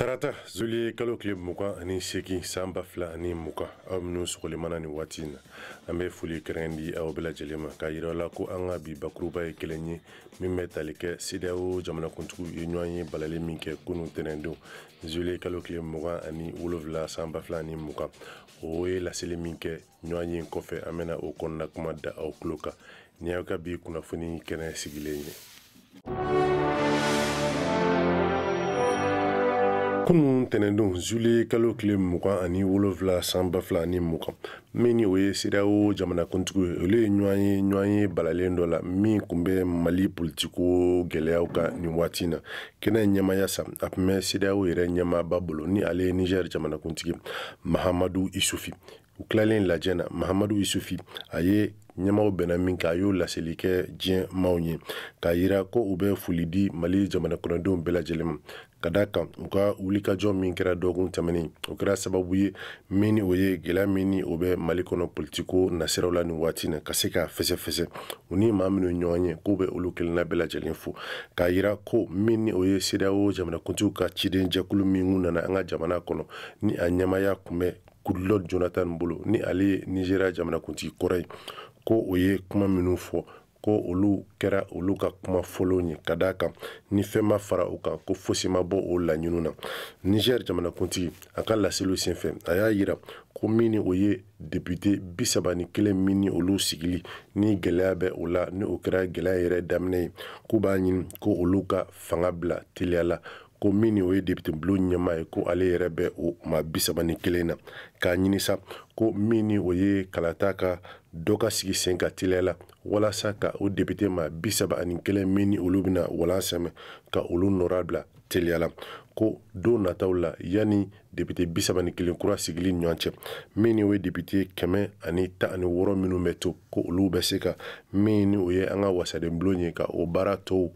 tarata zuliye kalo tile mugan ani seegin san ba fila ani mugan aw minnu sɔgɔlen b'an na nin waati na an bɛ foli kɛrɛn di aw bɛɛ lajɛlen ma k'a yira la ko an ka bi bakuruba ye kelen ye min bɛ tali kɛ sedeyawo jamanakuntigiw ye ɲɔgɔnye balalen min kɛ kunun tɛnɛndon zuliye kalo tile mugan ani wolonfila san ba fila ani mugan o ye laseli min kɛ ɲɔgɔn ye kɔfɛ an bɛna o kɔnɔna kuma da aw tulo kan nin y'aw ka bi kunnafoni kɛnɛ sigilen ye kunun tɛnɛndon zuliye kalo tile mugan ani wolonfila san ba fila ni mugan min ni o ye sedeyawo jamanakuntigiw ye olu ye ɲɔgɔn ye ɲɔgɔnye balalen dɔ la min tun bɛ mali politiko gɛlɛyaw kan nin waati na kɛnɛ ɲɛmaaya sa a tun bɛ sedeyawo yɛrɛ ɲɛmaaba bolo ni ale ye niger jamanakuntigi mahamadu isufi u tilalen lajɛ na mahamadu isufi a ye ɲɛmaaw bɛnna min kan a y'o laseli kɛ diɲɛ maaw ye k'a yira ko u bɛ foli di mali jamana kɔnɔdenw bɛɛ lajɛlen ma ka da kan u ka wulikajɔ min kɛra dɔgɔkun tɛmɛnen o kɛra sababu ye min ni o ye gɛlɛya min ni o bɛ mali kɔnɔ politiko nasiraw la nin waati na ka se k'a fɛsɛfɛsɛ u ni maa minnu ɲɔgɔn ye k'u bɛ olu kelenna bɛɛ lajɛlen fo k'a yira ko min ni o ye sedeyawo jamanakuntigiw ka ciden jɛkulu min nana an ka jamana kɔnɔ ni a ɲɛmaaya kun bɛ goodluck jonathan bolo ni ale ye nizeriya jamanakuntigi kɔrɔ ye ko o ye kuma minnu fɔ ko olu kɛra olu ka kuma fɔlɔw ye ka d'a kan ni fɛn ma fara o kan ko fosi ma bɔ o laɲiniw na niger jamanakuntigi a ka laseliw senfɛ a y'a yira ko min ni o ye depite bi saba ni kelen min ni olu sigili ni gɛlɛya bɛ o la ni o kɛra gɛlɛya yɛrɛ daminɛ ye k'u b'a ɲini ko olu ka fanga bila teliya la ko min ni o ye depitebulon ɲɛmaa ye ko ale yɛrɛ bɛ o maa bi saba ni kelen na k'a ɲini sa ko min ni o ye kalata ka dɔ ka sigi sen kan teliya la walasa ka o depite maa bi saba ani kelen min ni olu bɛna walan sɛmɛ ka olu nɔra bila teliya la ko don nataw la yanni depite bi saba ni kelen kura sigili ɲɔgɔn cɛ min ni o ye depite kɛmɛ ani tan ani wɔɔrɔ minnu bɛ to ko olu bɛ se ka min ni o ye an ka wasadenbulon ye ka o baara tɔw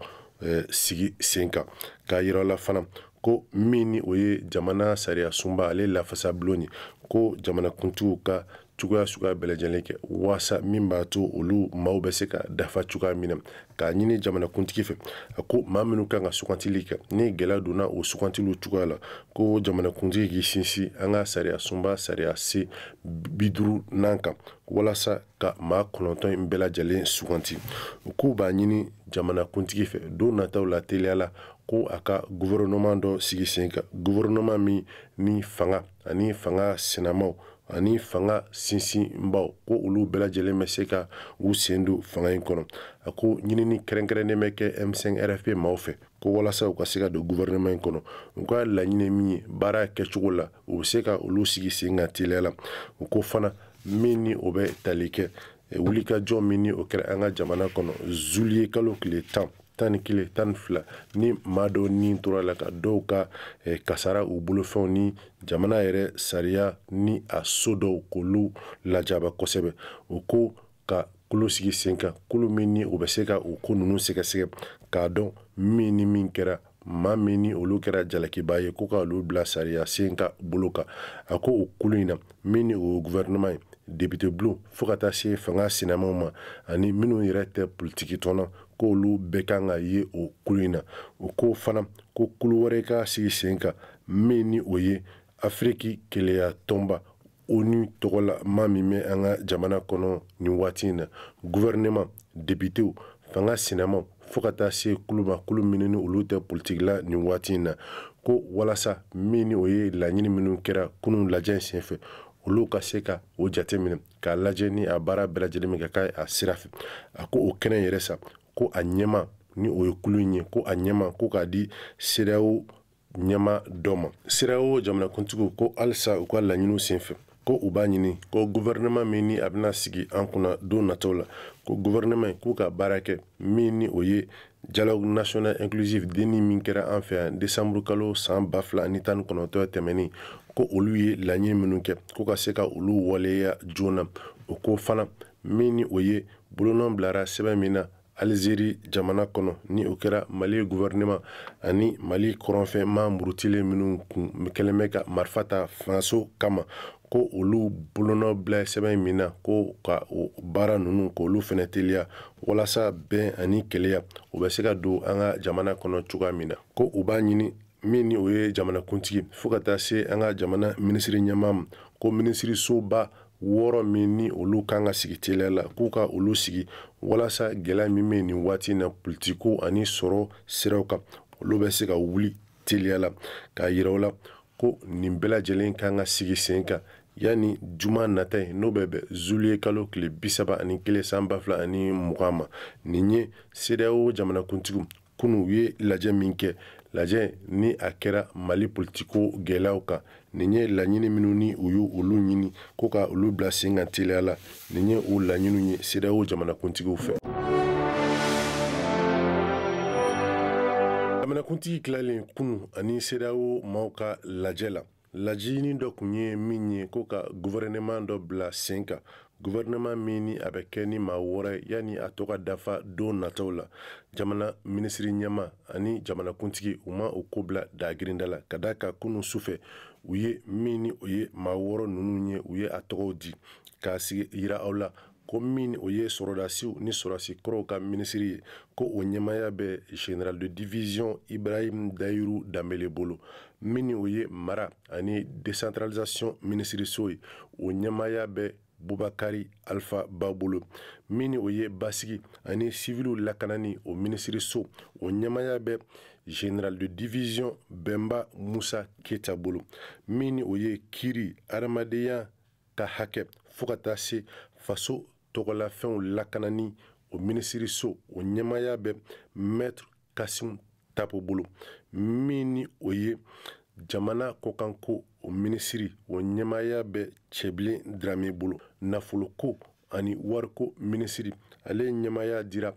sigi sen kan k'a yira la fana ko min ni o ye jamana sariya sunba ale lafasa bulon ye ko jamanakuntigiw ka cogoya suguya bɛɛ lajɛlen kɛ waasa min b'a to olu maaw bɛ se ka dafa cogoya min na k'a ɲini jamanakuntigi fɛ a ko maa minnu kan ka sugantili kɛ ni gɛlɛya donna o sugantiliw cogoya la ko jamanakuntigi k'i sinsin an ka sariya sunba sariyasen bi duurunan kan walasa ka maa kɔnɔntɔn in bɛɛ lajɛlen suganti u k'u b'a ɲini jamanakuntigi fɛ don nataw la teliya la ko a ka guvɛrɛnɔman dɔ sigi sen kan guvɛrɛnɔman min ni fanga ani fanga sinamaw ani fanga sinsinbaw ko olu bɛɛ lajɛlen bɛ se ka u sen don fanga in kɔnɔ a ko ɲinini kɛrɛnkɛrɛnnen bɛ kɛ m5 rfp maaw fɛ ko walasa u ka se ka don guvɛrɛnɛman in kɔnɔ u ka laɲini min ye baara kɛcogo la u bɛ se ka olu sigi sen kan teliya la u ko fana min ni o bɛ tali kɛ wulikajɔ min ni o kɛra an ka jamana kɔnɔ zuliye kalo tile tan tan ni kelen tan ni fila ni maa dɔw ni tora a la ka dɔw ka eh, kasara u bolofɛnw ni jamana yɛrɛ sariya ni a so dɔw k'olu lajaba kosɛbɛ u ko ka kulu sigi sen kan kulu min ni o bɛ se ka o ko ninnu sɛgɛsɛgɛ k'a dɔn min ni min kɛra maa min ni olu kɛra jalakiba ye ko ka olu bila sariya sen ka bolo kan a ko o kulu in na min ni o gouvernement ye depite bulon fo ka taa se fanga sinamaw ma ani minnu yɛrɛ tɛ politikitɔn na ko olu bɛɛ kan ka ye o kulu in na u ko fana ko kulu wɛrɛ ka sigi sen kan min ni o ye afiriki kelenya tɔnba onu tɔgɔla maa min bɛ an ka jamana kɔnɔ nin waati in na guvɛrɛnɛma depitew fanga sinamaw fɔɔ ka taa se kulu ma kulu minnu ni olu tɛ politiki la nin waati in na ko walasa min ni o ye laɲini minnu kɛra kunun lajɛ sen fɛ olu ka se ka o jate minɛ k'a lajɛ ni a baara bɛɛ lajɛlen bɛ ka kɛ a sira fɛ a ko o kɛnɛ yɛrɛ sa ko a ɲɛmaa ni o ye kulu in ye ko a ɲɛmaa ko k'a di sedeyawo ɲɛmaa dɔ ma sedeyawo jamanakuntigiw ko halisa u ka laɲiniw senfɛ ko u b'a ɲini ko guvɛrɛnɛman min ni a bɛna sigi an kunna don nataw la ko guvɛrɛnɛman k'u ka baara kɛ min ni o ye dialogue national inclusif dni min kɛra an fɛ yan desanburu kalo san ba fila ni tan ni kɔnɔntɔn tɛmɛnen ko olu ye laɲini minnu kɛ ko ka se ka olu waleya joona u ko fana min ni o ye bolonɔ bilara sɛbɛn min na alizeri jamana kɔnɔ ni o kɛra mali guvɛrɛnɛman ani mali kɔrɔnfɛ maa murutilen minnu kun kɛlen bɛ ka marifa ta fangaso kama ko olu bolonɔ bila sɛbɛn min na ko ka o baara ninnu k'olu fana teliya walasa bɛn ani kelenya o bɛ se ka don an ka jamana kɔnɔ cogoya min na ko u b'a ɲini min ni o ye jamanakuntigi fo ka taa se an ka jamana minisiri ɲɛmaa ma ko minisirisoba wɔɔrɔ min ni olu kan ka sigi teliya la k'u ka olu sigi walasa gɛlɛya min bɛ nin waati na politiko ani sɔrɔ siraw kan olu bɛ se ka wuli teliya la k'a yira u la ko nin bɛɛ lajɛlen kan ka sigi sen kan yanni juma nata ye n'o bɛ bɛn zuliye kalo tile bisaba ani kelen san ba fila ani mugan ma nin ye sedeyawo jamanakuntigiw kunu u ye lajɛ min kɛ lajɛ ni a kɛra mali politiko gɛlɛyaw kan nin ye laɲini minnu ni u y'olu ɲini ko ka olu bila sen kan teliya la nin ye o laɲiniw ye sedeyawo jamanakuntigiw fɛ jamanakuntigi tilalen kunu ani sedeyawo maaw ka lajɛ la laɲini dɔ tun ye min ye ko ka gouvernement dɔ bila sen kan gouvernement min ni a bɛ kɛ ni maa wɔɔrɔ yanni a tɔ ka dafa don nataw la jamana minisiriri ɲɛma ani jamanakuntigi u ma o ko bila dagirinda la ka da a kan kunu sufɛ u ye min ni o ye maa wɔɔrɔ ninnu ye u ye a tɔgɔw di k'a sigi yira aw la ko min o ye sɔrɔdasiw ni sɔrɔdasi kɔrɔw ka minisiri ye ko o ɲɛmaya bɛ general de division ibrahim dayiru danbele bolo min o ye mara ani decentralisation minisiriso ye o ɲɛmaya bɛ bubakari alfa ba bolo min o ye basigi ani siviliw lakanani o minisiriso o ɲɛmaya bɛ general de division bɛnba musa keyita bolo min o ye kiri adamadenya ka hakɛ fo ka taa se faso tɔgɔlafɛnw lakanani o minisiriso o ɲɛmaaya bɛ maitre kasimu tapo bolo min ni o ye jamana kɔkanko o minisiri o ɲɛmaaya bɛ cɛbilen dirame bolo nafoloko ani wariko minisiri ale ɲɛmaaya dira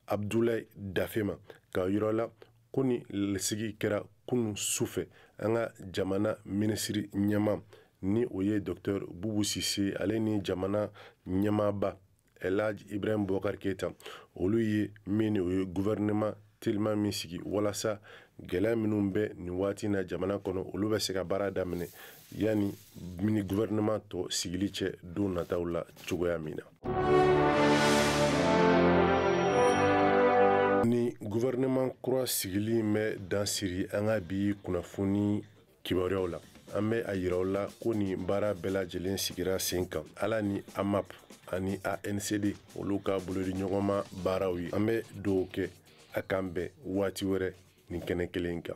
abdulayi dafe ma k'a yira aw la ko ni lasigi kɛra kunu su fɛ an ka jamana minisiri ɲɛma ni o ye dɔktɛr bubu sise ale ni jamana ɲɛmaba elaj ibrahim bubakar keyita olu ye min o ye gouvernement teliman min sigi walasa gɛlɛya minnu bɛ nin waati na jamana kɔnɔ olu bɛ se ka baara daminɛ yanni mini gouvernement tɔ sigili cɛ don nataw la cogoya min na ni gouvernement kura sigili in bɛ dan siri an ka bi kunnafoni kibaruyaw la an bɛ a yira aw la ko nin baara bɛɛ lajɛlen sigira sen kan ala ni amap ani ancd olu ka bolodi ɲɔgɔnma baaraw ye an bɛ dugawu kɛ a k'an bɛn waati wɛrɛ nin kɛnɛ kelen kan